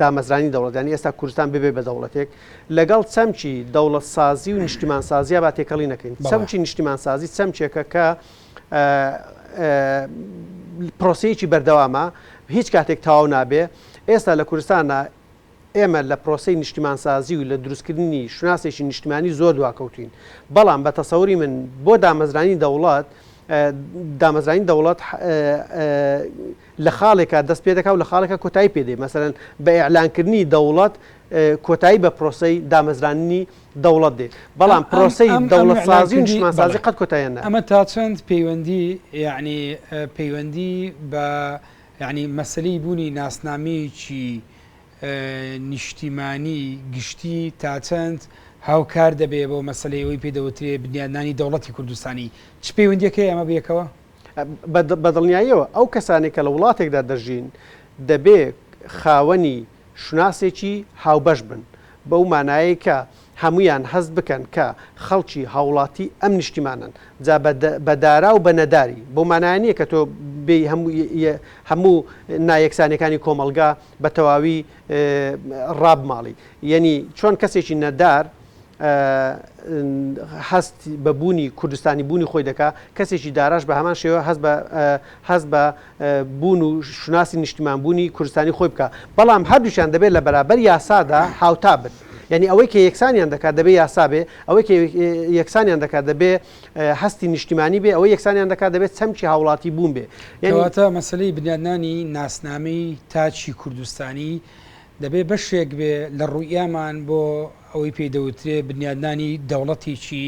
دامەزرانی دەوڵەت یانی ئێستا کوردستان ببێ بە دەوڵەتێک لەگەڵ چەمکی دەوڵەت سازی و نیشتیمان سازیە با تێکەڵی نەکەین چەمکی نیشتیمان سازی چەمکێکە کە پرۆسەیەکی بەردەوامە هیچ کاتێک تاو نابێ ئێستا لە کوردستانە ئێمە لە پرۆسی نیشتیمانسازی و لە دروستکردنی شوناسێکی نیشتمانی زۆر دواکەوتین بەڵام بە تەسەوری من بۆ دامەزرانی دەوڵات دامەزرانی دەوڵەت لە خاڵێکا دەست پێ دەکا و لە خاڵێکا کۆتایی پێ دێ، مەسەلەن بە ئیعلان کردنی دەوڵەت کۆتایی بە پرۆسەی دامەزراندنی دەوڵەت دێ، بەڵام پرۆسەی دەوڵەتسازی و نیشتمانسازی قەت کۆتاییان نایە. ئەمە تا چەند پەیوەندی یەعنی پەیوەندی بە یەعنی مەسەلەی بوونی ناسنامەیەکی نیشتیمانی گشتی تا چەند هاوکار دەبێ بۆ مەسەلەی ئەوەی پێ دەوترێ بنیادنانی دەوڵەتی کوردستانی، چ پەیوەندییەک هەیە ئەمە بەیەکەوە؟ بە دڵنیاییەوە ئەو کەسانەی کە لە وڵاتێکدا دەژین دەبێ خاوەنی شوناسێکی هاوبەش بن، بەو مانایەی کە هەموویان هەست بکەن کە خەڵکی هاوڵاتی ئەم نیشتیمانەن، جا بە دارا و بە نەداری، بەو مانایە نییە کە تۆ بێی هەموو نایەکسانیەکانی کۆمەڵگا بە تەواوی ڕابماڵی، یەنی چۆن کەسێکی نەدار هەست بە بوونی کوردستانی بوونی خۆی دەکا، کەسێکی داراش بە هەمان شێوە هەست بە هەست بە بوون و شوناسی نیشتیمان بوونی کوردستانی خۆی بکا، بەڵام هەردووکیان دەبێ لە بەرابەر یاسادا هاوتا بن، یانی ئەوەی کە یەکسانیان دەکا دەبێ یاسا بێ، ئەوەی کە یەکسانیان دەکا دەبێ هەستی نیشتیمانی بێ، ئەوەی یەکسانیان دەکا دەبێ چەمکی هاوڵاتی بوون بێ. کەواتە مەسەلەی بنیادنانی ناسنامەی تاکی کوردستانی، دەبێ بەشێک بێ لە ڕوئیامان بۆ ئەوەی پێی دەوترێ بنیادنانی دەوڵەتێکی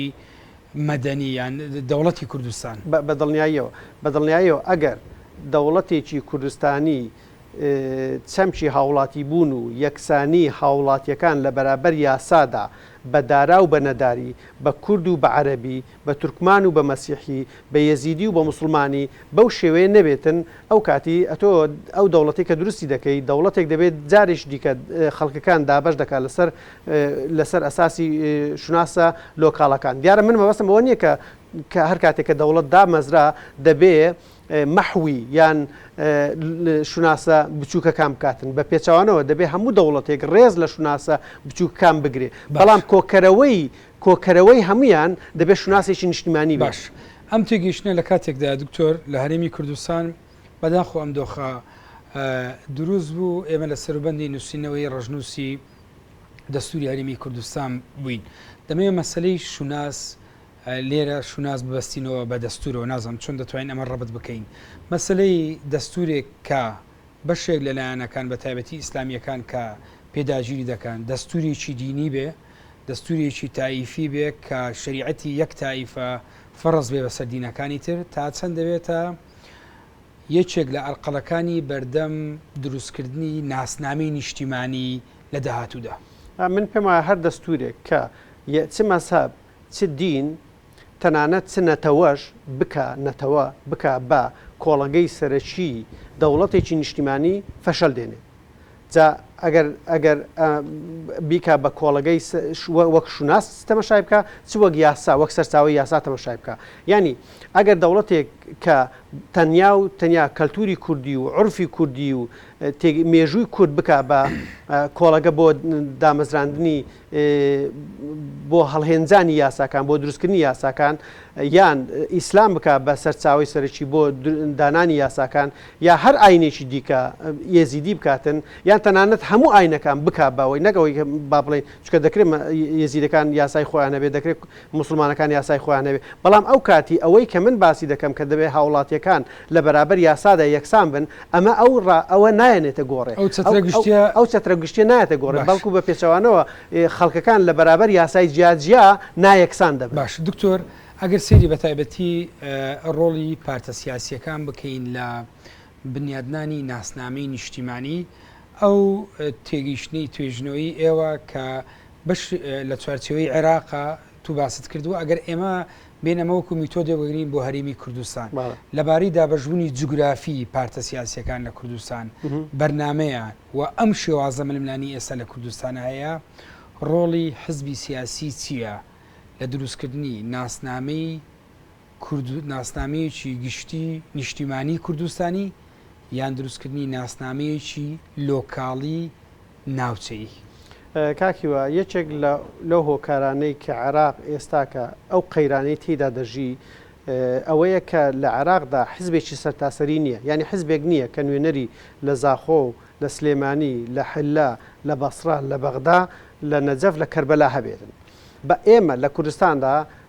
مەدەنی یان دەوڵەتی کوردستان. بە دڵنیاییەوە، بە دڵنیاییەوە ئەگەر دەوڵەتێکی کوردستانی چەمکی هاوڵاتیبوون و یەکسانی هاوڵاتییەکان لە بەرابەر یاسادا بە دارا و بە نەداری، بە کورد و بە عەرەبی، بە تورکمان و بە مەسیحی، بە یەزیدی و بە موسڵمانی بەو شێوەیە نەبێتن، ئەو کاتی ئەتۆ ئەو دەوڵەتەی کە دروستی دەکەی، دەوڵەتێک دەبێت جاریش دیکە خەڵکەکان دابەش دەکات لەسەر لەسەر ئەساسی شوناسە لۆکاڵەکان. دیارە من مەبەستم ئەوە نییە کە کە هەر کاتێک کە دەوڵەت دامەزرا دەبێ مەحوی یان شوناسە بچووکەکان بکاتن بە پێچوانەوە دەبێ هەموو دەوڵەتێک ڕێز لە شوناسە بچووکەکان بگرێ بەڵام کۆکەرەوەی کۆکەرەوەی هەموویان دەبێت شوناسێکی نیشتیمانی بێت. باش، ئەم تێگەیشتنە لە کاتێکدایە دکتۆر لە هەرێمی کوردستان بەداخەوە ئەم دۆخە دروست بوو، ئێمە لە سەروبەندی نووسینەوەی ڕەشنووسی دەستووری هەرێمی کوردستان بووین، دەمەوێت مەسەلەی شوناس لێرە شوناس ببەستینەوە بە دەستوورەوە، نازانم چۆن دەتوانین ئەمە ڕەبت بکەین، مەسەلەی دەستوورێک کە بەشێک لە لایەنەکان بە تایبەتی ئیسلامییەکان کە پێ داگیری دەکەن دەستوورێکی دینی بێ، دەستوورێکی تائیفی بێ کە شەریعەتی یەک تائیفە فەرز بێ بەسەر دینەکانی تر، تا چەند دەبێتە یەکێک لە ئەرقەلەکانی بەردەم دروستکردنی ناسنامەی نیشتیمانی لە داهاتوودا. من پێم وایە هەر دەستوورێک کە چ مەزهەب، چ دین، تەنانەت چ نەتەوەش بکا نەتەوە، بکا بە کۆڵەگەی سەرەکیی دەوڵەتێکی نیشتیمانی، فەشەل دێنێ. جا ئەگەر ئەگەر بیکا بە کۆڵەگەی وەک شوناس تەمەشای بکە چ وەک یاسا وەک سەرچاوی یاسا تەمەشای بکە یعنی ئەگەر دەوڵەتێک کە تەنیا و تەنیا کەلتوری کوردی و عرفی کوردی و مێژووی کورد بک بە کۆڵەگە بۆ دامەزراندنی بۆ هەڵهێنجانی یاساکان بۆ دروستکردنی یاساکان یان ئیسلام بکە بە سەرچاوی سەرکی بۆ دانانی یاساکان یا هەر ئاینێکی دیکە یزیدی بکاتن یان تەنانەت هەموو ئاینەکان بک باەوەی نەگەوەی با بڵێ چکە دەکرێت یزیدەکان یاسای خۆیانە بێ دەکرێت موسڵمانەکان یاسای خۆیان هەبێت، بەڵام ئەو کاتی ئەوەی کە من باسی دەکەم کە دەبێت هاوڵاتیەکان لە بەرابەر یاسادا یەکسان بن، ئەمە ئەو ڕا ئەوە نایەنێتە گۆڕێ. ئەو چەترە گشتیە. ئەو چەترە گشتیە نایەتە گۆڕێ، باشە. بەڵکو بە پێچەوانەوە خەڵکەکان لە بەرابەر یاسای جیا جیا نایەکسان دەبن. باشە دکتۆر ئەگەر سەیری بە تایبەتی ڕۆڵی پارتە سیاسیەکان بکەین لە بنیادنانی ناسنامەی نیشتیمانی، ئەو تێگەیشتنەی توێژنەوەی ئێوە کە بەش لە چوارچێوەی عێراقە تو باست کرد و ئەگەر ئێمە بێن ئەمە وەکو میتۆدێ بگرین بۆ هەرێمی کوردستان لەبارەی دابەشبوونی جوگرافی پارتە سیاسیەکان لە کوردستان بەرنمەیە و ئەم شێوازە ململانی ئێستا لە کوردستان هەیە ڕۆڵی حزبی سیاسی چییە لە دروستکردنی ناسنامەی کورد ناسنامەیەکی گشتی نیشتیمانی کوردستانی یان دروستکردنی ناسنامەیەکی لۆکاڵی ناوچەیی؟ کاک هیوا، یەکێک لە لەو هۆکارانەی کە عێراق ئێستاکە ئەو قەیرانەی تێیدا دەژی ئەوەیە کە لە عێراقدا حزبێکی سەرتاسەری نییە، یانی حزبێک نییە کە نوێنەری لە زاخۆ و لە سلێمانی، لە حللە، لە بەسڕە، لە بەغدا، لە نەجەف، لە کەربەلا هەبێتن. بە ئێمە لە کوردستاندا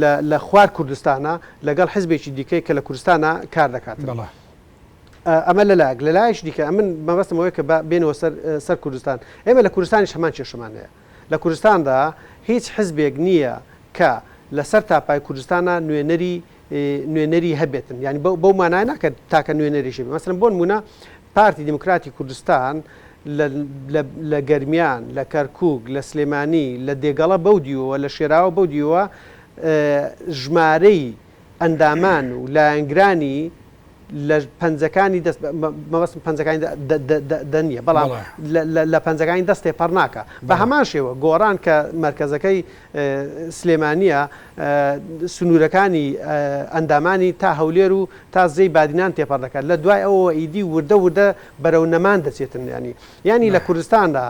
لە لە خوار کوردستانە لەگەڵ حزبێکی دیکەی کە لە کوردستانە کار دەکات بەڵا ئەمە لە لاگ لە لایش دیکە ئەمن مەبەستمەوەی کە بێنەوە سەر سەر کوردستان ئێمە لە کوردستانیش هەمان کێشەمان هەیە لە کوردستاندا هیچ حزبێک نییە کە لەسەر تاپای کوردستانە نوێنەری نوێنەری هەبێتن ینی بەو مانای ناکرد تاکە نوێنەریشی مەسرم بۆن مونە پارتی دیموکراتی کوردستان لە لە گەرمیان، لە کەرکووک، لە سلێمانی، لە دێگەڵە بەو دیوەوە، لە شێراوە بەو دیوەوە ژمارەی ئەندامان و لایەنگرانی لە پەنجەکانی دەست مەبەستم پەنجەکانی دە نییە بەڵام لە پەنجەکانی دەست تێپەڕ ناکە بە هەمان شێوە گۆڕان کە مەرکەزەکەی سلێمانییە، سنوورەکانی ئەندامانی تا هەولێر و تا زێی بادینان تێپەڕ دەکات، لە دوای ئەوەوە ئیدی وردە وردە بەرەو نەمان دەچێتن. یانی یانی لە کوردستاندا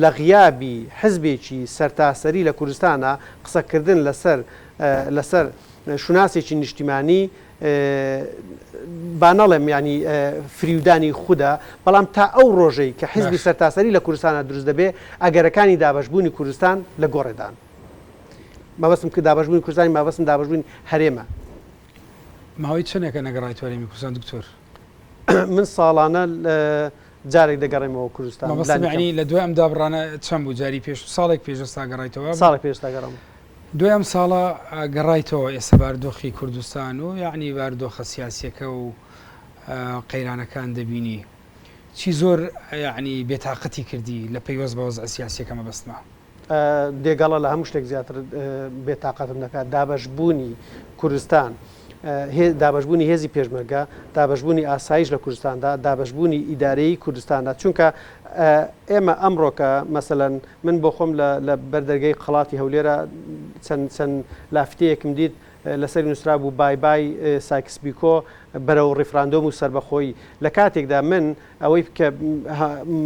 لە غیابی حزبێکی سەرتاسەری لە کوردستاندا قسەکردن لەسەر لەسەر شوناسێکی نیشتیمانی، با نەڵێم یانی فریودانی خودە، بەڵام تا ئەو ڕۆژەی کە حیزبی باشە. سەرتاسەری لە کوردستانا دروست دەبێ، ئەگەرەکانی دابەشبوونی کوردستان لە گۆڕێدان. مەبەستم ک دابەشبوونی کوردستان نی، مابەستم دابەشبوونی هەرێمە. ماوەی چەنێکە نەگەڕایتوە هەرێمی کوردستان دکتۆر؟ من ساڵانە جارێک دەگەڕێمەوە کوردستان. مەبەستم لانی کەم. یانی لە دوای ئەم دابڕانە چەن بوو جاری پێش؟ ساڵێک پێش ئێستا گەڕایتەوە وابوو؟ ساڵێک پێش ئێستا گەڕام. دوای ئەم ساڵە گەڕایتەوە ئێستا باردۆخی کوردستان و یاعنی باردۆخە سیاسیەکە و قەیرانەکان دەبینی چی زۆر یاعنی بێتاقەتی کردی لە پەیوەست بە وەزع سیاسیەکە مەبەستمە. دێگەڵە لە هەموو شتێک زیاتر بێتاقەتم دەکات دابەش بوونی کوردستان دابەشبوونی هێزی پێشمەرگە، دابەشبوونی ئاسایش لە کوردستاندا، دابەشبوونی ئیدارەیی کوردستاندا، چونکە ئێمە ئەمڕۆ کە مەسەلەن من بۆ خۆم لە بەر دەرگەی قەڵاتی هەولێرە چەند چەند لافتەیەکم دیت لەسەر نووسرا بوو بای بای سایکس بیکۆ بەرەو ڕیفراندۆم و سربەخۆیی لە کاتێکدا من ئەوەی کە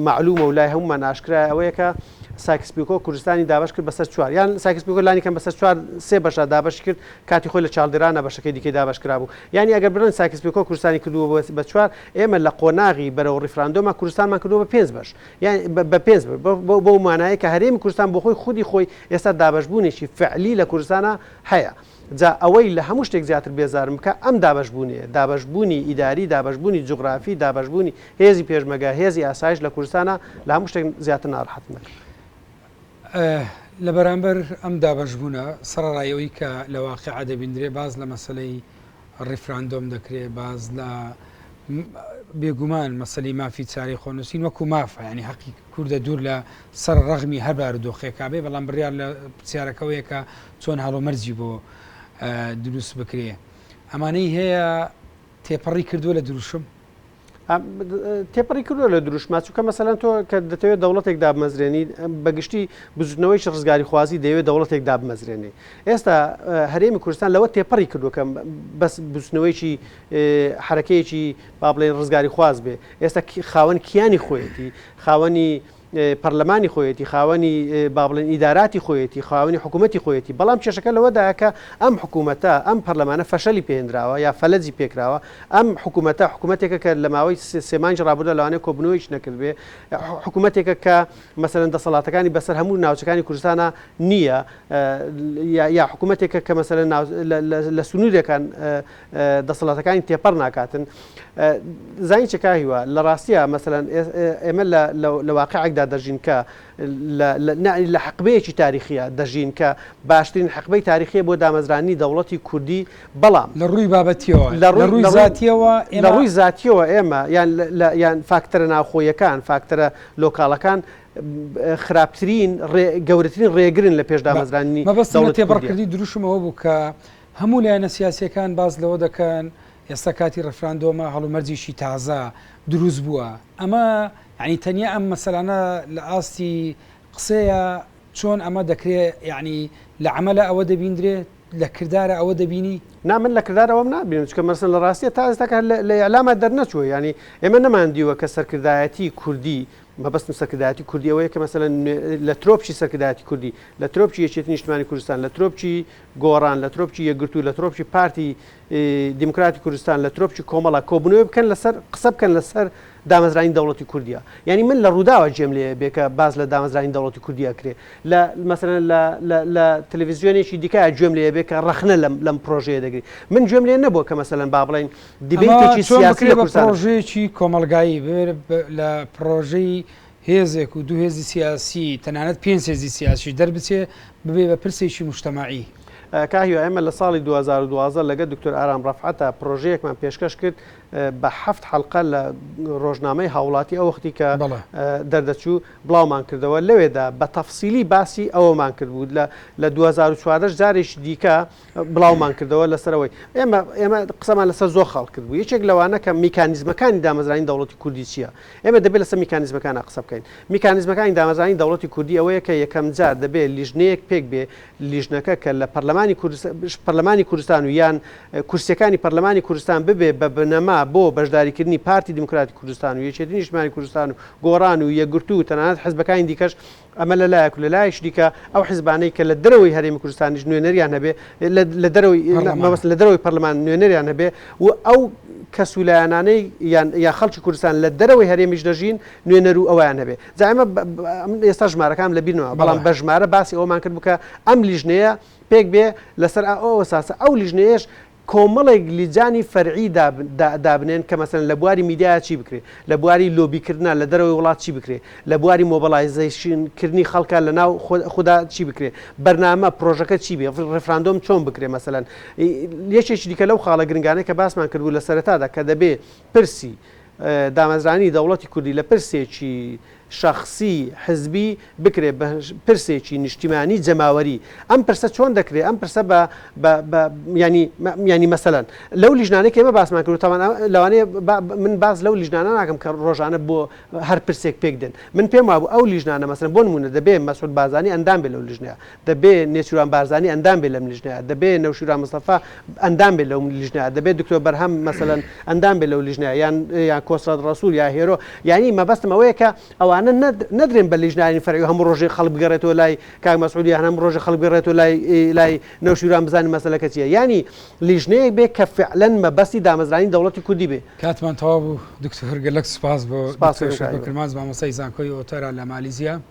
مەعلوومە و لای هەموومان ئاشکرایە ئەوەیە کە سایکس پیکۆ کوردستانی دابەش کرد بەسەر چوار یان سایکس پیکۆ لانی کەم بەسەر چوار سێ بەشە دابەشی کرد کاتی خۆی لە چاڵدێرانە بەشەکەی دیکەی دابەش کرابوو یانی ئەگەر بڵێن سایکس پیکۆ کوردستانی کردووە بە چوار ئێمە لە قۆناغی بەرەو ڕیفراندۆمە کوردستانمان کردووە بە پێنج بەش یان بە پێنج بەو مانایە کە هەرێمی کوردستان بۆ خۆی خودی خۆی ئێستا دابەشبوونێکی فعلی لە کوردستانە هەیە جا ئەوەی لە هەموو شتێک زیاتر بێزارم بکا ئەم دابەشبوونەیە، دابەشبوونی ئیداری، دابەشبوونی جوغرافی، دابەشبوونی هێزی پێشمەگە، هێزی ئاسایش لە کوردستانا لە هەموو شتێک زیاتر ناڕەحەتم دەکا. لە بەرامبەر ئەم دابەشبوونە، سەڕەڕای ئەوەی کە لە واقیعا دەبیندرێ باس لە مەسەلەی ڕیفراندۆم دەکرێ، باس لە بێگومان مەسەلی مافی چارەی خۆنووسین وەکوو مافە، یانی هەقی کوردە دوور لە سەر ڕەغمی هەر بارودۆخێکا بێ، بەڵام بڕیار لە پرسیارەکە ئەوەیە کە چۆن هەڵومەرجی بۆ دروست بکرێ ئەمانەی هەیە تێپەڕی کردووە لە دروشم؟ تێپەڕی کردووە لە دروشما چووکە مەسەلەن تۆ کە دەتەوێت دەوڵەتێک دابمەزرێنی بەگشتی بزوتنەوەیش ڕزگاری خوازی دەیەوێت دەوڵەتێک دابمەزرێنی ئێستا هەرێمی کوردستان لەوە تێپەڕی کردوەکەم بەس بزوتنەوەیکی حرەکەیەکی با بڵێن ڕزگاری خواز بێ ئێستا خاوەن کیانی خۆیەتی خاوەنی پەرلەمانی خۆیەتی، خاوەنی با بڵێن ئیداراتی خۆیەتی، خاوەنی حکوومەتی خۆیەتی، بەڵام کێشەکە لەوەدایە کە ئەم حکوومەتە، ئەم پەرلەمانە فەشەلی پێ هێنراوە یا فەلەجی پێکراوە، ئەم حکوومەتە حکوومەتێکە کە لە ماوەی سێ مانگی ڕابوردوودا لەوانەیە کۆبوونەوەیەکی نەکردبێ، حکوومەتێکە کە مەسەلەن دەسەڵاتەکانی بەسەر هەموو ناوچەکانی کوردستانا نییە یا حکوومەتێکە کە مەسەلەن لە سنوورێکان دەسەڵاتەکانی تێپەڕ ناکاتن زانی چ کا هیوا لە ڕاستیە مەسەلەن ئێمە لە واقعێکدا دەژین کە لە حقبەیەکی تاریخیە دەژین کە باشترین حقبەی تاریخیە بۆ دامەزرانی دەوڵەتی کوردی بەڵام لە ڕووی بابەتیەوە لە ڕووی زاتیەوە لە ڕووی زاتیەوە ئێمە یان یان فاکتەرە ناوخۆیەکان فاکتەرە لۆکاڵەکان خراپترین گەورەترین ڕێگرن لە پێش دامەزرانی مەبەست تێپەڕکردی دروشمەوە بوو کە هەموو لایەنە سیاسییەکان باس لەوە دەکەن ئێستا کاتی ڕێفراندۆمە، هەڵومەرجێکی تازە دروست بووە. ئەمە یانی تەنیا ئەم مەسەلانە لە ئاستی قسەیە، چۆن ئەمە دەکرێ یانی لە عەمەلا ئەوە دەبیندرێ، لە کردارا ئەوە دەبینی؟ نا من لە کردار ئەوەم نابینم، چونکە مەسەلەن لە ڕاستییە تا ئێستاکە هەر لە ئیعلاما دەرنەچووە، یانی ئێمە نەمان دیوە کە سەرکردایەتیی کوردی، مەبەستم سەرکردایەتیی کوردی ئەوەیە کە مەسەلەن لە ترۆپکی سەرکردایەتیی کوردی، لە ترۆپکی یەکێتیی نیشتمانیی کوردستان، لە ترۆپکی، گۆڕان، لە ترۆپکی یەکگرتوو، لە ترۆپکی پارتی دیموکراتی کوردستان، لە ترۆپکی کۆمەڵە، کۆبوونەوەی بکەن لەسەر قسە بکەن لەسەر دامەزرانی دەوڵەتی کوردیا. یانی من لە ڕووداوە جێم لێ بێ کە باس لە دامەزرانی دەوڵەتی کوردی ئەکرێ. لە مەسەلەن لە لە لە تەلەڤیزیۆنێکی دیکە گوێم لێ بێ کە ڕەخنە لەم لەم پرۆژەیە دەگری. من گوێم لێ نەبووە کە مەسەلەن با بڵێین دیبەیتێکی سیاسی لە کوردستان. ئەمە چۆن بکرێ بە پرۆژەیەکی کۆمەڵگایی ببێ لە پرۆژەی هێزێک و دوو هێزی سیاسی تەنانەت پێنج هێزی سیاسیش دەربچێ ببێ بە پرسێکی موجتەمەعی. کاهیوا ئێمە لە ساڵی دوو هەزار و دوازدە لەگەل دکتۆر ئارام رەفعەتا پرۆژەیەکمان پێشکەش کرد بە حەفت حەلقە لە رۆژنامەی هاوڵاتی ئەوەختی کە دەردەچوو بڵاومان کردەوە لەوێدا بە تەفسیلی باسی ئەوەمان کردبوو لە دوو هەزار و چواردە جارێکی دیکە بڵاومان کردەوە لەسەر ئەوەی ئێمە ئێمە قسەمان لەسەر زۆر خاڵ کرد بوو یەکێک لەوانە کە میکانیزمەکانی دامەزرانی دەوڵەتی کوردی چییە ئێمە دەبێت لەسەر میکانیزمەکانە قسە بکەین میکانیزمەکانی دامەزرانی دەوڵەتی کوردی ئەوەیە کە یەکەم جار دەبێت لیژنەیەک پێک بێ لیژنەکە کە لە پەرلەمانی پەرلەمانی کوردستان و یان کورسەکانی پەرلەمانی کوردستان ببێ بە بنەما بۆ بەشداریکردنی پارتی دیموکراتی کوردستان و یەکێتی نیشتمانی کوردستان و گۆڕان و یەگرتو و تەنانەت حزبەکانی دیکەش ئەمە لە لایەک و لە لایەکی دیکە ئەو حزبانەی کە لە دەرەوەی هەرێمی کوردستانیش نوێنەریان هەبێ لە دەرەوەی مەبەستم لە دەرەوەی پەرلەمان نوێنەریان هەبێ و ئەو کەس و لایەنانەی یان یا خەڵکی کوردستان لە دەرەوەی هەرێمیش دەژین نوێنەر و ئەویان هەبێ جا ئێمە ئێستا ژمارەکانم لەبیرمەوە بەڵام بە ژمارە باسی ئەوەمان کرد بوو کە ئەم لیژنەیە پێک بێ لەسەر ئەو ئەساسە ئەو لیژنەیەش کۆمەڵێک لیجانی فەرعی دابنێن کە مەسەلەن لە بواری میدیایا چی بکرێ، لە بواری لۆبی کردنا لە دەرەوەی وڵات چی بکرێ، لە بواری مۆبەڵایزەیشن کردنی خەڵکا لە ناو خودا چی بکرێ، بەرنامە، پرۆژەکە چی بێ، ڕیفراندۆم چۆن بکرێ مەسەلەن یەکێکی دیکە لەو خاڵە گرنگانەی کە باسمان کردبوو لە سەرەتادا کە دەبێ پرسی دامەزرانی دەوڵەتی کوردی لە پرسێکی شەخسی، حزبی، بکرێت بە پرسێکی نیشتیمانی، جەماوەری. ئەم پرسە چۆن دەکرێت ئەم پرسە بە بە بە یانی یانی مەسەلەن لەو لیژنانەی کە ئێمە باسمان کرد و تاوان لەوانەیە با من باس لەو لیژنانە ناکەم کە ڕۆژانە بۆ هەر پرسێک پێک دێن. من پێم وابوو ئەو لیژنانە مەسەلەن بۆ نموونە دەبێ مەسعود بازانی ئەندام بێ لەو لیژنە دەبێ نێچیروان بارزانی ئەندام بێ لەم لیژنەیە، دەبێ نەوشیروان مستەفا ئەندام بێ لەو لیژنەیە، دەبێ دکتۆر بەرهەم مەسەلەن ئەندام بێ لەو لیژنەیە یان یان کۆسرەت ڕەسول یا هێرۆ، یانی مەبەستم ئەوەیە کە ئەوانە نەد نەدرێن بە لیژنانی فەرعی و هەموو ڕۆژێ خەڵک بگەڕێتەوە لای کاک مەسعود یان هەموو ڕۆژێ خەڵک بگەڕێتەوە لای لای نەوشیروان بزانن مەسەلەکە چییە، یانی لیژنەیەک بێ کە فعلەن مەبەستی دامەزرانی دەوڵەتی کوردی بێ. کاتمان تەواو بوو دکتۆر گەلەک سوپاس بۆ سوپاس دکتۆر شاکر کرمانج مامۆستای زانکۆی ئۆتەرا لە مالیزیا.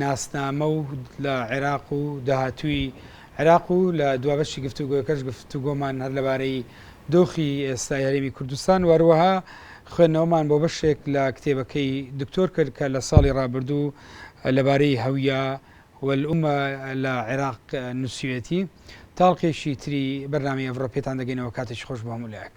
ناسنامە و لە عێراق و داهاتووی عێراق و لە دوابەشی گفتوگۆکەش گفتوگۆمان هەر لەبارەی دۆخی ئێستای هەرێمی کوردستان و هەروەها خوێندنەوەمان بۆ بەشێک لە کتێبەکەی دکتۆر کرد کە لە ساڵی ڕابردوو لەبارەی هەویە والامە لە عێراق نووسیوێتی تاڵقێکی تری بەرنامەی ئەڤڕۆ پێتان دەگەینەوە کاتێکی خۆش بۆ هەموو لایەک.